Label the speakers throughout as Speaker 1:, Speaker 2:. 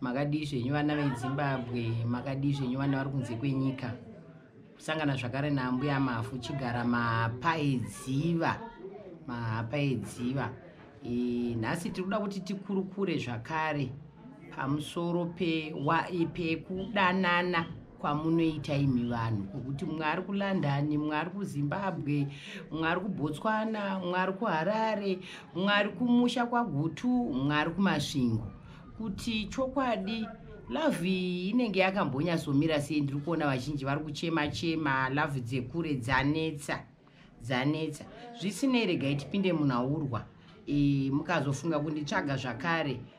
Speaker 1: makadii zvenyu vana vezimbabwe makadii zvenyu vana vari kunze kwenyika kusangana zvakare naambuya mafu chigara mahapa edziva mahapa edziva e, nhasi tiri kuda kuti tikurukure zvakare pamusoro pekudanana pe kwamunoita imi vanhu kwokuti mumwe ari kulondon mumwe ari kuzimbabwe mumwe ari kubotswana mumwe ari kuharare mumwe ari kumusha kwagutu mumwe ari kumasvingo kuti chokwadi lovhe iyi inenge yakambonyatsomira sei ndiri kuona vazhinji vari kuchema chema lovhe dzekure dzanetsa dzanetsa zvisinei regai tipinde munhu aurwa e, mukazofunga kunditsvaga zvakare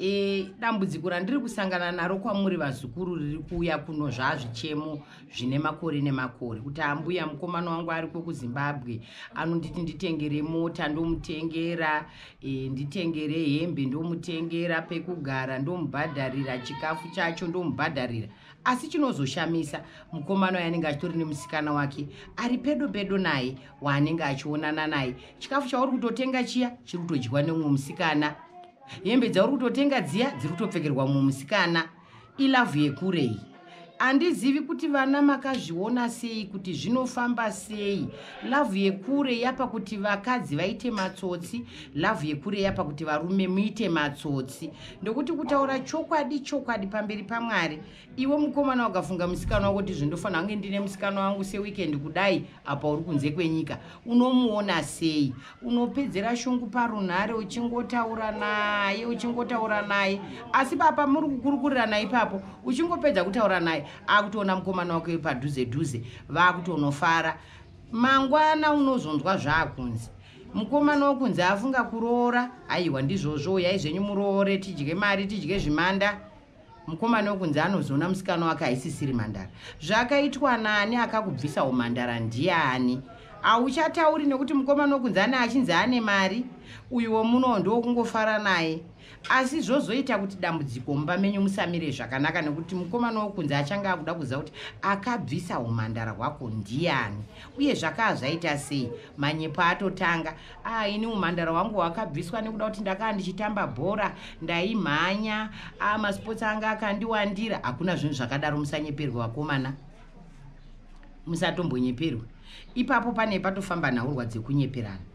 Speaker 1: e, dambudziko randiri kusangana naro kwamuri vazukuru riri kuuya kuno zvaazvichemo zvine makore nemakore kuti ambuya mukomana wangu ariko kuzimbabwe anonditi nditengere mota ndomutengera e, nditengere hembe ndomutengera pekugara ndomubhadharira chikafu chacho ndomubhadharira asi chinozoshamisa mukomana uyo anenge achitori nemusikana wake ari pedo pedo naye waanenge achionana naye chikafu chauri kutotenga chiya chiri kutodyiwa nemumwe musikana hembe dzauri kutotenga dziya dziri kutopfekerwa mumwe musikana ilavhu yekurei handizivi kuti vana makazviona sei kuti zvinofamba sei lavhu yekure yapa kuti vakadzi vaite matsotsi lavhu yekure yapa kuti varume muite matsotsi ndokuti kutaura chokwadi chokwadi pamberi pamwari iwe mukomana wakafunga musikana wako kuti zvindofanira kunge ndine musikana wangu seweekend kudai apa uri kunze kwenyika unomuona sei unopedzera shungu parunhare uchingotaura naye uchingotaura naye asi papa muri kukurukurirana ipapo uchingopedza kutaura naye akutoona mukomana wako padhuze dhuze vakutonofara mangwana unozonzwa zvaakunzi mukomana wokunzi afunga kuroora aiwa ndizvozvo uyai zvenyu muroore tidye mari tidye zvimanda mukomana wekunzi anozoona musikana wake haisisiri mhandara zvakaitwa nani akakubvisa umhandara ndiani hauchatauri nekuti mukomana wekunzi ane achinzi ane mari uyu wemunowo ndowokungofara naye asi zvozoita kuti dambudziko mumba menyu musamire zvakanaka nekuti mukomana wekunzi achange akuda kuziva kuti akabvisa umhandara hwako ndiani uye zvakaa zvaita sei manyepo atotanga Ah, ini umhandara hwangu hwakabviswa nekuda kuti ndakaa ndichitamba bhora ndaimhanya ah, masports anga akandiwandira hakuna zvinhu zvakadaro musanyeperwe vakomana musatombonyeperwe ipapo pane patofamba nhaurwa dzekunyeperana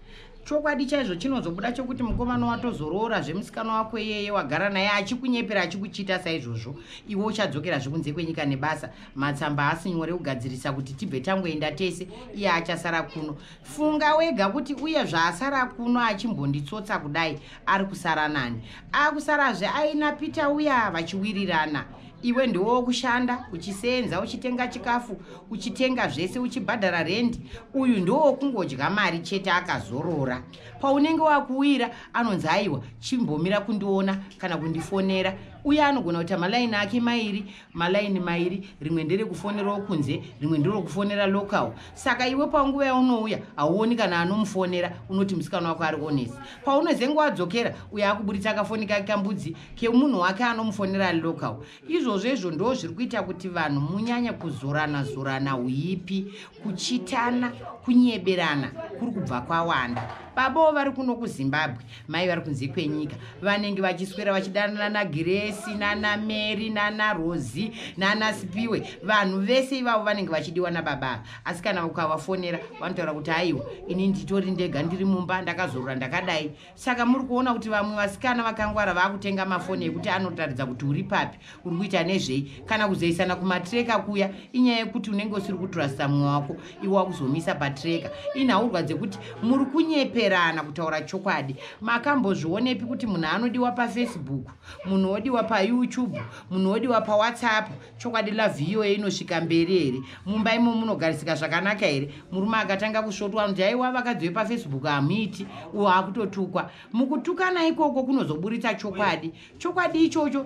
Speaker 1: chokwadi chaizvo chinozobuda chokuti mukomana watozoroora zvemusikana wako iyeye wagara naye achikunyepera achikuchiita saizvozvo iwe uchadzokera zvekunze kwenyika nebasa matsamba haasi nyore kugadzirisa kuti tibve tangoenda tese iye achasara kuno funga wega kuti uye zvaasara kuno achimbonditsotsa kudai ari kusara nani akusarazve aina pita uya vachiwirirana iwe ndiwo kushanda uchiseenza uchitenga chikafu uchitenga zvese uchibhadhara rendi uyu ndiwo kungodya mari chete akazorora paunenge wakuwira anonzi aiwa chimbomira kundiona kana kundifonera uye anogona kuita malaini ake mairi malaini mairi rimwe nderekufonerawo kunze rimwe nderokufonera local saka iwe panguva yaunouya hauoni kana anomufonera unoti musikana wako ari honest paunozenge wadzokera uyo akuburitsa kafoni kake kambudzi kemunhu wake anomufonera ari local izvozvo izvo ndo zviri kuita kuti vanhu munyanya kuzorana zorana uipi kuchitana kunyeberana kuri kubva kwawanda baboo vari kuno kuzimbabwe mai vari kunze kwenyika vanenge vachiswera vachidanana nagiresi nana mary nana rosi nana sipiwe vanhu vese ivavo vanenge vachidiwa nababa ava asi kana ukavafonera vanotaura kuti aiwa ini nditori ndega ndiri mumba ndakazorora ndakadai Saka muri kuona kuti vamwe vasikana vakangwara vakutenga mafoni ekuti anotaridza kuti uri papi, uri kuita nezvei, kana kuzoisana kumatreka kuya. Inyaya yekuti unenge usiri kutrasta mumwe wako, iwe wakuzomisa patreka. Inhaurwa dzekuti muri kunyeperana kutaura chokwadi. Makambozvionepi kuti munhu anodiwa pafacebook, munhu odiwa payoutube, munhu odiwa pawhatsapp, chokwadi love iyoyo inosvika mberi here mumba imo munogarisika zvakanaka here murume akatanga kusvotwa anoti aiwa vakadzi vepafacebook hamuiti uwo akutotukwa mukutukana ikoko kunozoburitsa chokwadi chokwadi ichocho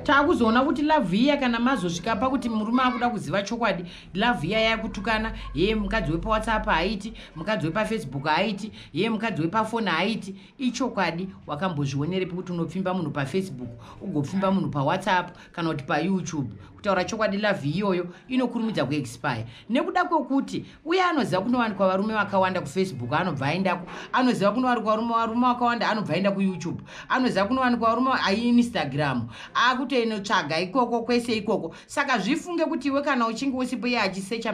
Speaker 1: taakuzoona kuti love iya kana mazosvika pakuti murume akuda kuziva chokwadi love iya yakutukana yee mukadzi wepawhatsapp haaiti mukadzi wepafacebook haaiti yee mukadzi wepafoni haaiti ichokwadi wakambozvionerepi kuti unopfimba munhu pafacebook ugopfimba munhu pawhatsapp kana kuti payoutube kutaura chokwadi lavhi iyoyo inokurumidza kuexpire nekuda kwekuti uye anoziva kunowanikwa varume vakawanda kufacebook anobva aendako anoziva kunowanikwa varume vakawanda anobva aenda kuyoutube anoziva kunowanikwa varume aiinstagram akutoenotsvaga ikoko kwese ikoko saka zvifunge kuti iwe kana uchinge usipo iye achisecha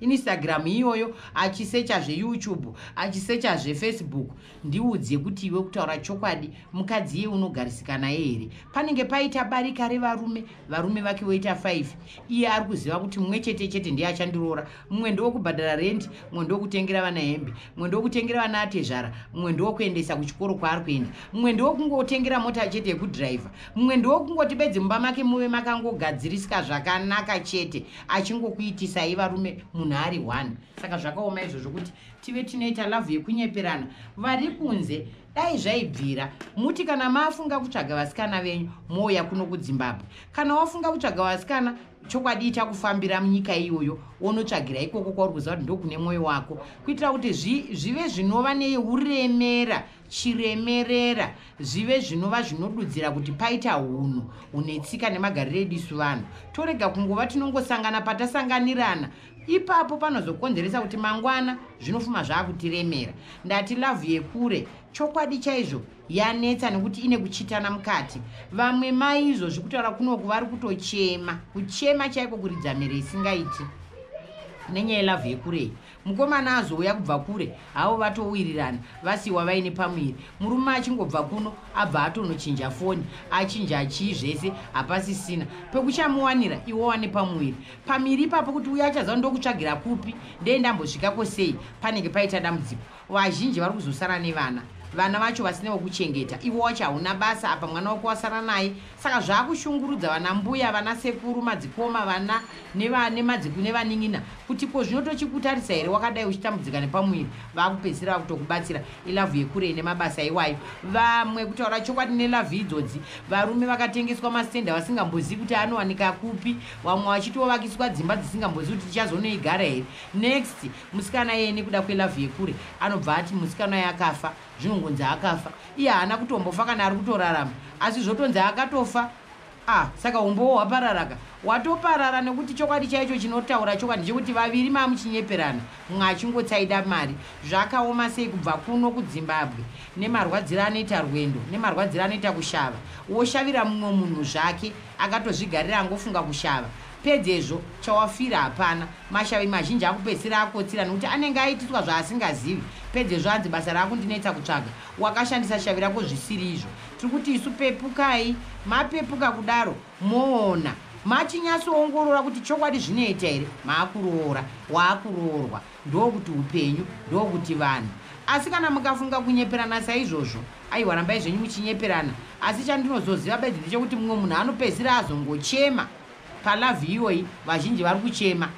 Speaker 1: mainstagram iyoyo achisecha zveyoutube achisecha zvefacebook Ndiudze kuti iwe kutaura chokwadi mukadzi iye unogarisika naye here? Panenge paita barika revarume, varume vake voita five. Iye ari kuziva kuti mumwe chete chete ndiye achandiroora. Mumwe ndewokubhadhara rendi, mumwe ndewokutengera vana hembe, mumwe ndewokutengera vana atezvara, mumwe ndewokuendesa kuchikoro kwaari kuenda, mumwe ndewokungotengera mota chete yekudhiraivha, mumwe ndewokungoti bedzi mumba make muve makangogadzirisika zvakanaka chete achingokuitisai varume munhu ari one. Saka zvakaoma izvozvo kuti tive tinoita lavhu yekunyeperana vari kunze dai zvaibvira muti kana mafunga kutsvaga vasikana venyu mouya kuno kudzimbabwe kana wafunga kutsvaga vasikana chokwadi ichakufambira munyika iyoyo wonotsvagira ikoko kwauri kuziva kuti ndokune mwoyo wako kuitira kuti zvive zvinova neuremera chiremerera zvive zvinova zvinodudzira kuti paita unhu une tsika nemagariro edisu vanhu torega kungova tinongosangana patasanganirana ipapo panozokonzeresa kuti mangwana zvinofuma zvaakutiremera ndati lavhu yekure chokwadi chaizvo yanetsa nekuti ine kuchitana mukati vamwe maizvo zvekutaura kunoku vari kutochema kuchema chaiko kuridza mhere isingaiti nenyaya yelavhu yekurei mukomana azouya kubva kure havo vatowirirana vasiwa vaine pamuviri murume achingobva kuno abva atonochinja foni achinja chii zvese hapasisina pekuchamuwanira iwo wane pamuviri pamiri ipapo kuti uye achaziva ndokutsvagira kupi ndee ndambosvikako sei panenge paita dambudziko vazhinji vari kuzosara nevana vana vacho vasine vokuchengeta ivo wacho hauna basa apa mwana wako wasara naye saka zvaakushungurudza vana mbuya vana sekuru madzikoma vana nemadziku nevanin'ina kuti ko zvino tochikutarisa here wakadai uchitambudzika nepamuviri vakupedzisira vakutokubatsira ilavhu yekurei nemabasa iwayo vamwe kutaura chokwadi nelavhu idzodzi varume vakatengeswa mastenda vasingambozivi kuti anowanika kupi vamwe vachitovakiswa dzimba dzisingambozivi kuti tichazonoigara here next musikana iyeye nekuda kwelove yekure anobva ati musikana uye akafa zvinongonzi akafa iye haana kutombofa kana ari kutorarama asi zvotonzi akatofa ah saka umbowo hwapararaka watoparara nekuti chokwadi chaicho chinotaura chokwadi ndechekuti vaviri mamuchinyeperana mumwe achingotsaida mari zvakaoma sei kubva kuno kudzimbabwe nemarwadziro anoita rwendo nemarwadziro anoita kushava woshavira mumwe munhu zvake Akatozvigarira angofunga kushava. Pedzezvo, chawafira hapana. Mashavi mazhinji akupedzisira akotsira nekuti anenge aitiswa zvaasingazivi. Pedzezvo anzi basa raakundinetsa kutsvaga. Wakashandisa shavi rako zvisiri izvo. Tiri kuti isu pepukai. Mapepuka kudaro, moona. Machinyatsoongorora kuti chokwadi zvinoita here. Maakuroora. Waakuroorwa. Ndokuti hupenyu, ndokuti vanhu. Asi kana mukafunga kunyeperana saizvozvo, aiwa rambai zvenyu muchinyeperana, asi chandinozoziva bedzi ndechekuti mumwe munhu anopedzisira azongochema palove iyoyi, vazhinji vari kuchema.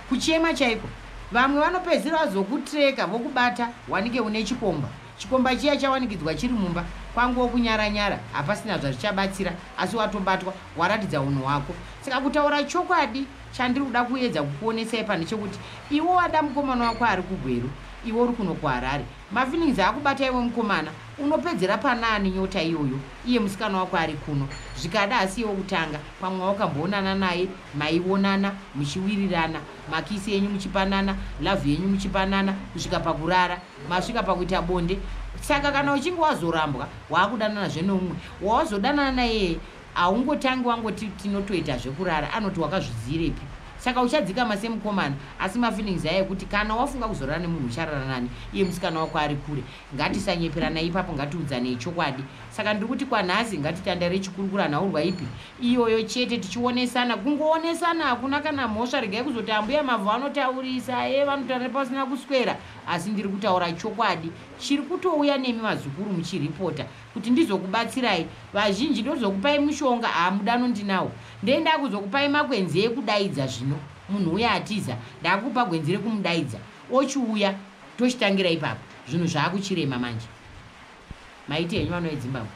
Speaker 1: Kuchema chaiko. Vamwe vanopedzisira vazokutreka vokubata wanike une chikomba. Chikomba chiya chawanikidzwa chiri mumba, kwanguwo kunyara nyara hapasina zvazvichabatsira asi watobatwa, waratidza hunhu hwako. Saka kutaura chokwadi. Chandiri kuda kuedza kukuonesai pano chekuti iwe wada mukomana wako ari kuGweru iwe uri kuno kuHarare. Mafeelings akubata iwe mukomana unopedzera panaani nyota iyoyo iye musikana wako ari kuno. Zvikada hasi iye wekutanga pamwe wakamboonana naye maionana muchiwirirana makisi enyu muchipanana love yenyu muchipanana kusvika pakurara masvika pakuita bonde saka kana uchinge wazorambwa wakudananazve neumwe wawazodanana naye Haungotangi wangoti tinotoita zvekurara anoti wakazviziirepi saka uchadzikama semukomana asi mafeelings aya ekuti kana wafunga kuzorara nemunhu ucharara nani iye musikana wako ari kure ngatisanyeperanai ipapo ngatiudzanei chokwadi saka ndiri kuti kwanhasi ngatitandare chikurukura nhaurwa ipi iyoyo chete tichionesana kungoonesana hakuna kana mhosva regai kuzoti ambuya mavhu vanotaurisa e vanotaura pasina kuswera asi ndiri kutaura chokwadi chiri kutouya nemi vazukuru muchiripota kuti ndizokubatsirai vazhinji ndozokupai mushonga haa mudano ndinawo ndee ndakuzokupai makwenzi ekudaidza zvino munhu uya atiza ndakukupa gwenzi rekumudaidza ochiuya tochitangira ipapo zvinhu zvakuchirema manje maiti henyu vanoedzimbabwe